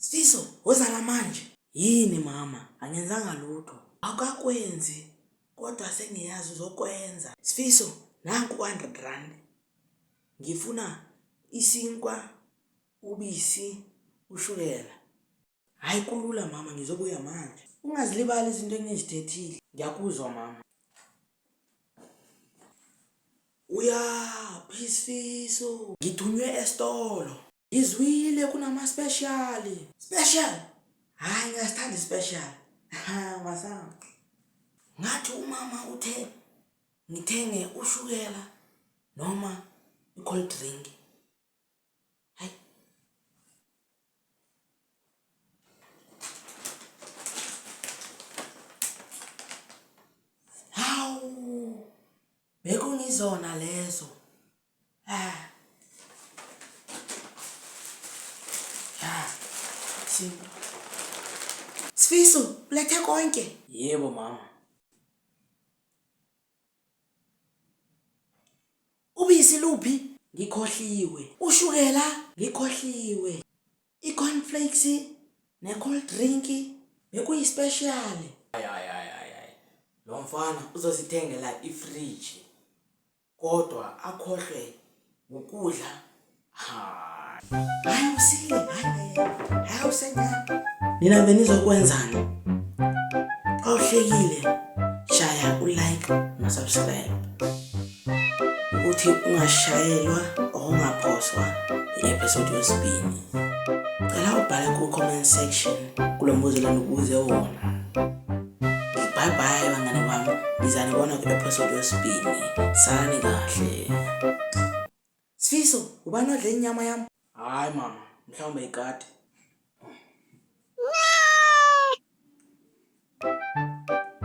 Sfiso, Woza la manje. Yini mama? Angenzanga lutho. Awukakwenzi kodwa sengiyazi uzokwenza. Sfiso, Nanku u-hundred rand. Ngifuna isinkwa, ubisi, ushukela. Hhayi kulula mama ngizobuya manje. Ungazilibali izinto engizithethile. Ngiyakuzwa mama. Uyaphi Sfiso? Ngithunywe esitolo. Ngizwile kunama special. Special? Hayi ngiyasithanda special. Ha masanga. Ngathi umama uthe ngithenge ushukela noma i-cold drink. Hayi. Hawu. Bekungizona lezo. Sifiso, ulethe konke? Yebo mama. Ubisi luphi? Ngikhohliwe. Ushukela? Ngikhohliwe. I-cornflakes ne-cold drink bekuyi-special. Hayi hayi hayi hayi hayi. Lo mfana uzosithengela ifriji. Kodwa akhohlwe ukudla. Hayi. Hayi usile, hayi. Hayi usencane. Nina benizokwenzani? Xa uhlekile shaya u-like no-subscribe ukuthi ungashayelwa okungaphoswa i-episode yesibini. Cela ubhale ku-comment section kulo mbuzo lana ukuze wona. Bye bye bangane bami. Ngizanibona ku episode yesibini. Sani kahle. Sifiso, ubani odle inyama yami? Hayi mama, mhlawumbe ikati.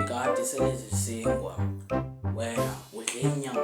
Ikati selezisingwa. Wena udle inyama.